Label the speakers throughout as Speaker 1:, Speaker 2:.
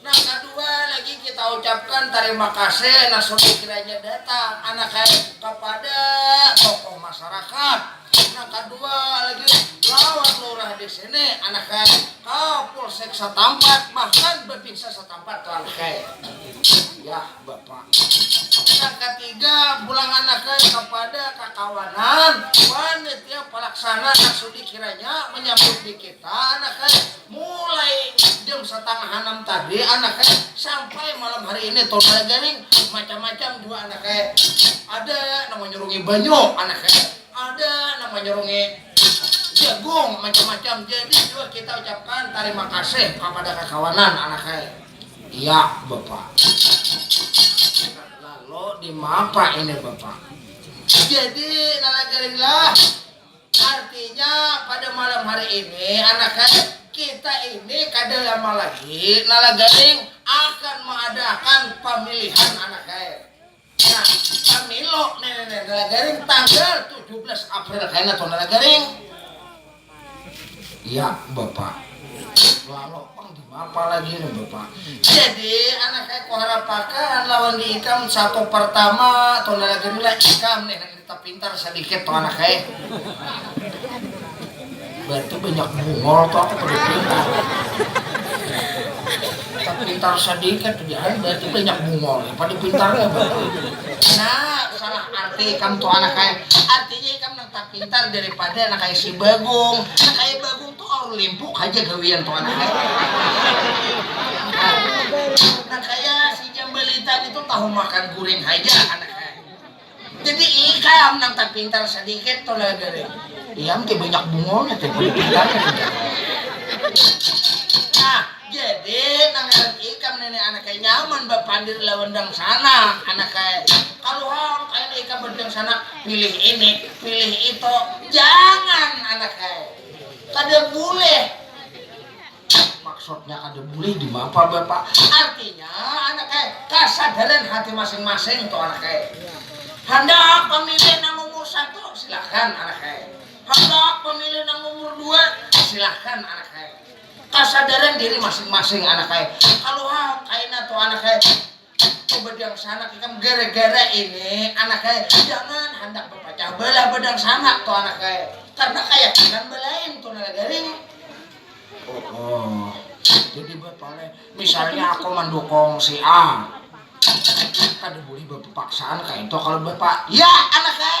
Speaker 1: Nang kadua lagi kita ucapkan tarima kasih nang sudah kiranya datang anak kaya kapada tokoh masarakat. Nang kadua lagi lawan lurah di sini anak kaya kapolsek satampat bahkan bapinsa satampat tuh anak kaya. Yah. Nang katiga, pulang anakan kapada kakawanan wan nitiap palaksana nang sudi kiranya manyambut di kita anakan mulai jam satangah anam tadi anakan sampai malam hari ini todai garing macam-macam jua anakan ada nang manyurungi banyu anakan ada nang manyurungi jagung macam-macam jadi jua kita ucapkan tarima kasih kapada kakawanan anakan. Yak bapa. Lalu dimapa ini bapa. Jadi nana gerindra artinya pada malam hari ini anak hai kita ini kada lama lagi nana garing akan mengadakan pemilihan anak hai. Nah, Camilo nene nela garing tanggal tujuh belas April kena tuh nela garing. Ya, Bapak. Lalo pang dimapa lagi nih, Bapak. Jadi, anak aku harapakan lawan di ikam sapa pertama tuh nela garing lah ikam nih. Tetap pintar sadikit tuh anak eh. Berarti banyak buhol tuh aku perlu pintar. Tetap pintar sadikit tuh ah, berarti banyak buhol. Ya, pada pintar ya berarti. Nah, salah arti ikam tuh anak eh. Artinya ikam nang tak pintar daripada anak eh si Bagong. Anak eh Bagong tuh orang limpuk aja gawian tuh anak eh. Nah, nang kaya si Jambalitan itu tahu makan guring aja anak Jadi ikam nang tapintar sadikit tu lah diri. Iam ti banyak bungulnya ti kada pintar nya tu jar. Nah, jadi nang ngaran ikam nini anak kaya nyaman bapandir lawan dangsana, anak kaya kalu hang kaya ni ikam badangsana pilih ini, pilih itu, jangan anak kaya kada bulih. Maksudnya kada bulih dimapa bapak? Artinya anak eh kasadaran hati masing-masing tu anak eh. Handak pamilih nang umur satu silahkan anak eh. Handak pamilih nang umur dua silahkan anak eh. Kasadaran diri masing-masing anak eh. Kaluhah kaina tu anak eh. Itu bedangsanak ikam gara-gara ini anak ai jangan handak bapacah belah bedangsanak tu anak ai karena kayakinan belain tu nala garing. Oh, oh. Jadi batoleh misalnya aku mandukung si A kada boleh bapapaksaan kaitu kalau bapak ya anak ai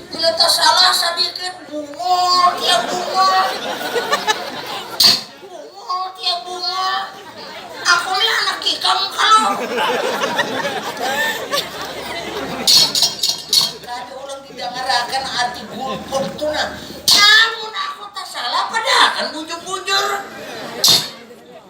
Speaker 1: Bila tasalah sadikit bungul ya bungul. Bungul ya bungul. Aku ni anak ikam kalo. Kada urang didangarakan arti gulput tu nah. Amun aku tasalah padahakan bujur-bujur.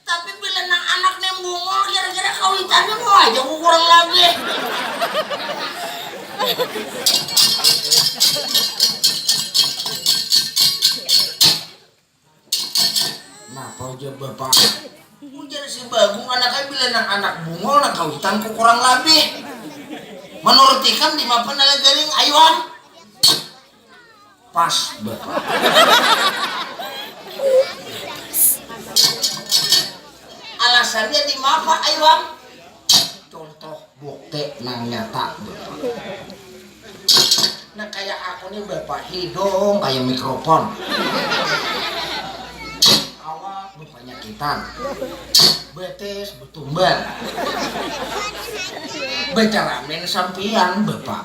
Speaker 1: Tapi bila nang anak nih bungul kira-kira kawitannya mau aja ku kurang labih. Napa ujar bapak, ujar si Bagong anaknya bila nang anak bungul nang kawitan ku kurang labih. Manurut ikam dimapa nala garing ayuhan? Pas Alasannya di mapa ai wang? Contoh bukti nang nyata Nah kaya aku nih hidung kaya mikrofon, awak bepanyakitan, betis betumbar, becaramin sampiyan bapak.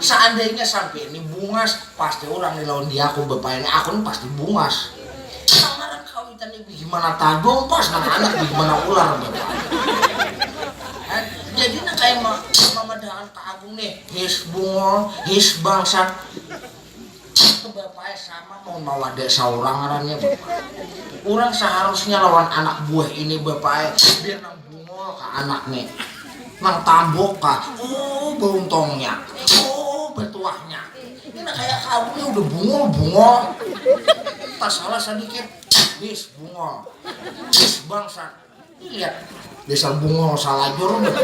Speaker 1: Seandainya sampai ini bungas, pasti urang di lawan diaku bapaini aku ni pasti bungas. Samaran kawitan ni bigimana tadung pas nang anak bigimana ular bapak. Jadi nang kaya mamadahakan ka agung ni, his bungul, his bangsat. Itu bapak ai sama mau mawada saurang ngarannya bapak. Urang saharusnya lawan anak buah ini bapak ai biar nang bungul kah anak ni. Nang tambuk kah, ooh bauntongnya, ooh batuahnya. Ini nang kaya kamu ni udah bungul bungol. Tasalah sadikit, bis bungol. Bis bangsat. Desa Bungul salajur bah.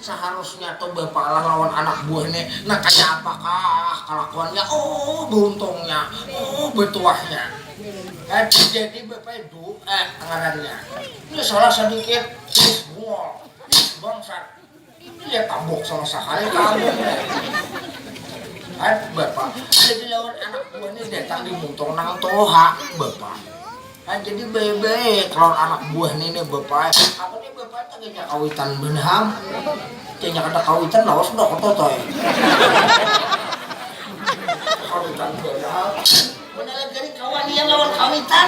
Speaker 1: Saharusnya tu bapalah lawan anak buah ne, nah kaya apa kah kalakuannya ooh beruntungnya, ooh betuahnya. Habis jadi bapai Du'e ngarannya. Nih salah sadikit, bis Bungul, bis bangsat. Iya tabok sama sakali kamu Aduh bapak, jadi lawan anak buah ni datang di mutor nang toha bapak. Nah jadi baik-baik lawan anak buah ni nih bapak. Aku nih bapak teganya kawitan benam. Teganya kada kawitan lawas sudah aku totoy. Kawitan benam. Mana lagi hari kawanian lawan kawitan.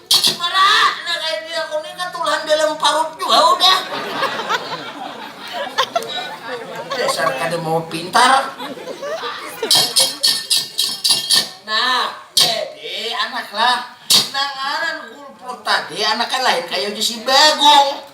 Speaker 1: Ibaratnya kayak dia aku nih ketulan dalam parut juga udah. Dasar kada mau pintar. Nah, jadi anaklah nang ngaran kulput tadi anaknya lain kayak si Bagong.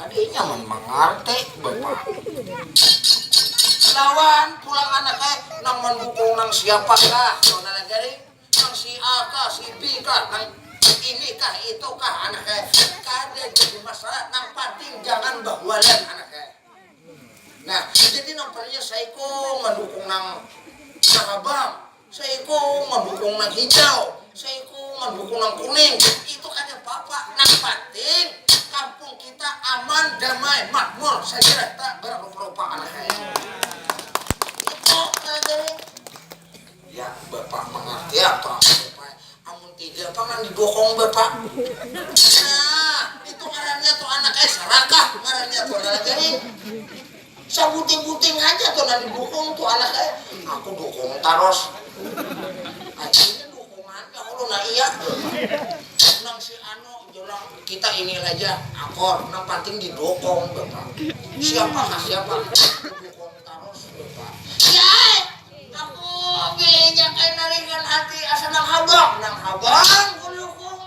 Speaker 1: Adik nyaman mangarti bapagi. Lawan pulang anak ai nang mandukung nang siapa kah saudara lagi nih? Nang si A kah, si B kah, nang ini kah, itu kah anak ai. Kada jadi masalah, nang panting jangan bahualan anak ai. Nah, jadi nang palingnya saikung mandukung nang sarabang. Seiku mandukung nang hijau, seiku mandukung nang kuning, itu kada papa, nang panting kampung kita aman, damai, makmur, sajarata, bararupa-rupa anak ai. Itu nang jadi. Ya bapak mangarti apa aku bapak ai, amun tiga pang nang didukung bapak. Nah, itu ngarannya tu anak ai sarakah ngarannya tu nah jadi. Sabuting-buting haja tu nah didukung tu anak ai, aku dukung tarus. Akhirnya dukungan ka ulun nah iya tu. Nang si anu jar urang, kita ini haja akur, nang panting didukung jar urang. Siapa kah siapa, aku dukung tarus jar urang. Iya ai, aku bininya kain naringan hati asa nang habang, nang habang ku dukung.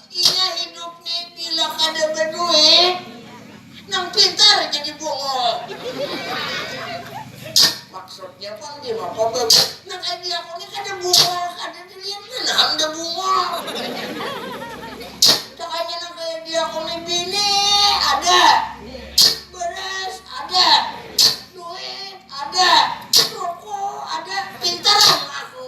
Speaker 1: Inya hidup ni bila kada baduit, nang pintar jadi bungul. Maksudnya pang dimapa babi, nang kaya diaku ni kada bungul, kada dilihat banar am dah bungul. Dakanya nang kaya diaku ni bini ada, baras ada, duit ada, ruku ada, pintar am aku.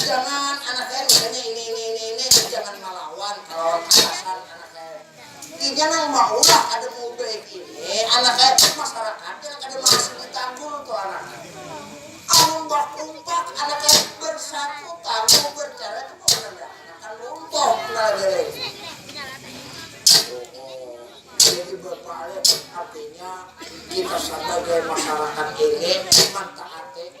Speaker 1: Jangan anak ai mudanya ini ini ini ini ai jangan malawan kalawan atasan anak ai. Inya nang maulah kada maubaik ini anak ai tapi masyarakat yang kada maasih ditanggul tu anak ai. Amun bakumpak anak ai bersatu tangguh bercerai tu pemerintahan akan runtuh kena negara ini. Jadi bapalik artinya kita sabagai masyarakat ini mantaati.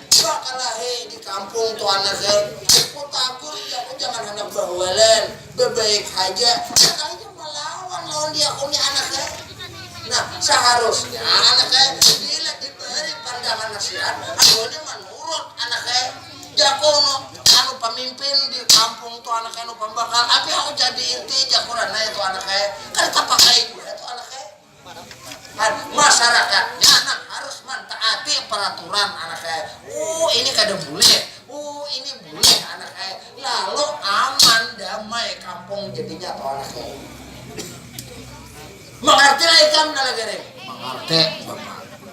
Speaker 1: Iba kalahi di kampung tu anak ai, ku tagur jar ku jangan handak bahualan, babaik haja, sakalinya malawan lawan diaku ni anak ai. Nah, saharusnya anak ai bila dibari pandangan nasihat anunya manurut anak ai, jaku nu anu pamimpin di kampung tu anak ai nu pambakal, api aku jadi inti jaku ranai tu anak ai, kada tapakai jua tu anak ai. Masyarakatnya nang harus mantaati peraturan anak ai. Uh ini kada bulih, uh ini bulih anak ai. Lalu aman damai kampung jadinya toh anak ai. Mangartilah ikam Nala Garing? Mangarti, Bapak.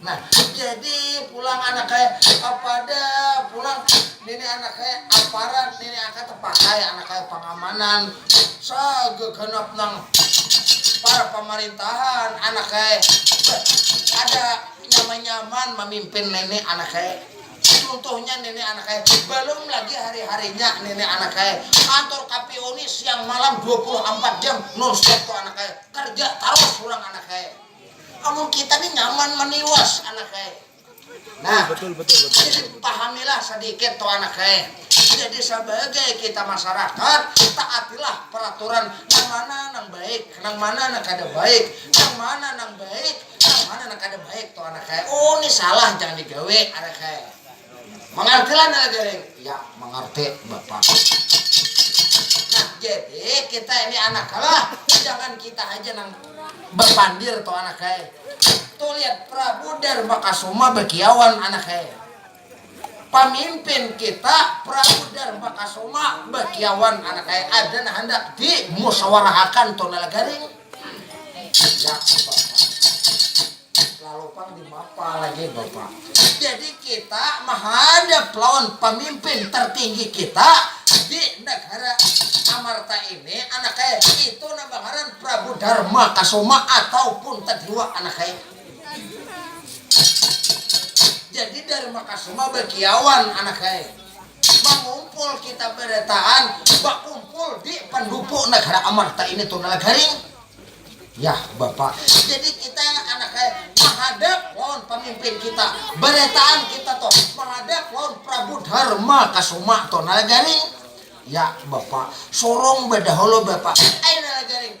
Speaker 1: Nah, jadi pulang anak kaya apada pulang nini anak kaya aparat nini aka tapakai anak kaya pangamanan saga ganap nang para pamarintahan anak kaya kada nyaman-nyaman mamimpin nini anak kaya cuntuhnya nini anak kaya balum lagi hari-harinya nini anak kaya kantor KPU ni siang malam dua puluh ampat jam non stop tu anak kaya kerja tarus pulang anak kaya. Amun kita ni nyaman maniwas anak ai. Nah, jadi pahamilah sadikit tu anak ai. Jadi sabagai kita masarakat, taatilah peraturan nang mana nang baik, nang mana nang kada baik, nang mana nang baik, nang mana nang kada baik tu anak ai. Oh ni salah jangan digawi anak ai. Mangarti lah Nila Jaring? Ya, mangarti, Bapak. Nah, jadi kita ini anak kalah, jangan kita haja nang bapandir tu anak ai. Tuh lihat Prabu Dharmakasuma bakiauan anak ai. Pamimpin kita Prabu Dharmakasuma bakiauan anak ai. Ada nang handak dimusawarahakan tu Nila Jaring? Jadi kita mahadap lawan pamimpin tertinggi kita di negara Amarta ini anaknya itu nang bangaran Prabu Darma Kasoma atau pun Tadiwa anaknya. Jadi Darma Kasoma bakiawan anaknya. Mangumpul kita berataan bakumpul di pendupu negara Amarta ini tuh nala garing. Yah bapa, jadi kita anak kaya mahadap lawan pamimpin kita barataan kita tuh mahadap lawan Prabu Dharma Kasuma tuh nala garing. Yah bapa, sorong badahulu bapa, ai nala garing.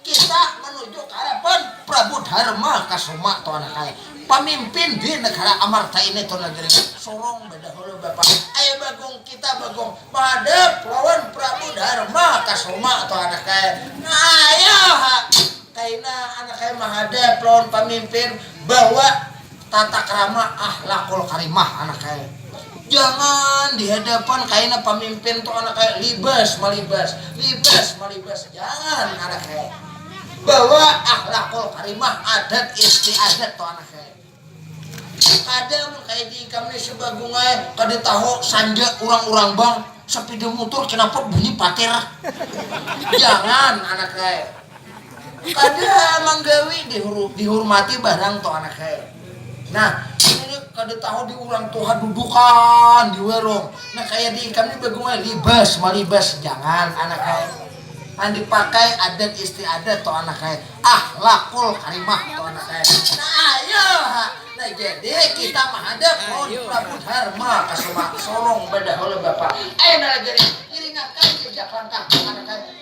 Speaker 1: Kisah manuju ka harapan Prabu Dharma Kasuma tu anak ai. Pamimpin di negara Amarta ini tu negeri Sorong badahulu bapa ai Bagong kita Bagong bahadap lawan Prabu Dharma Kasuma tu anak ai. Naya ha kaina anak ai mahadap lawan pamimpin bawa. Tata krama akhlaqul karimah anak kaya jangan di hadapan kaina pamimpin tu anak kaya libas malibas libas malibas jangan anak kaya bawa akhlaqul karimah adat istiadat tu anak kaya kada mun kaya di ikam ni sebagung ai kada tahu sanja urang urang bang sapida mutur kenapa bunyi patir jangan anak kaya. Kada ha manggawi dihurmati barang tu anak he. Nah, ini kada tahu di urang tu ha dudukan di warung. Nah, kaya di ikam ni bagumai libas malibas jangan anak he. Nang dipakai adat istiadat tu anak he. Ahlakul karimah tu anak he. Nah, iyo ha. Nah, jadi kita mahadap lawan Prabu Dharma Kasuma. Sorong badahul bapak. Ayu nalagiri, iringakan jejak langkahku anak he.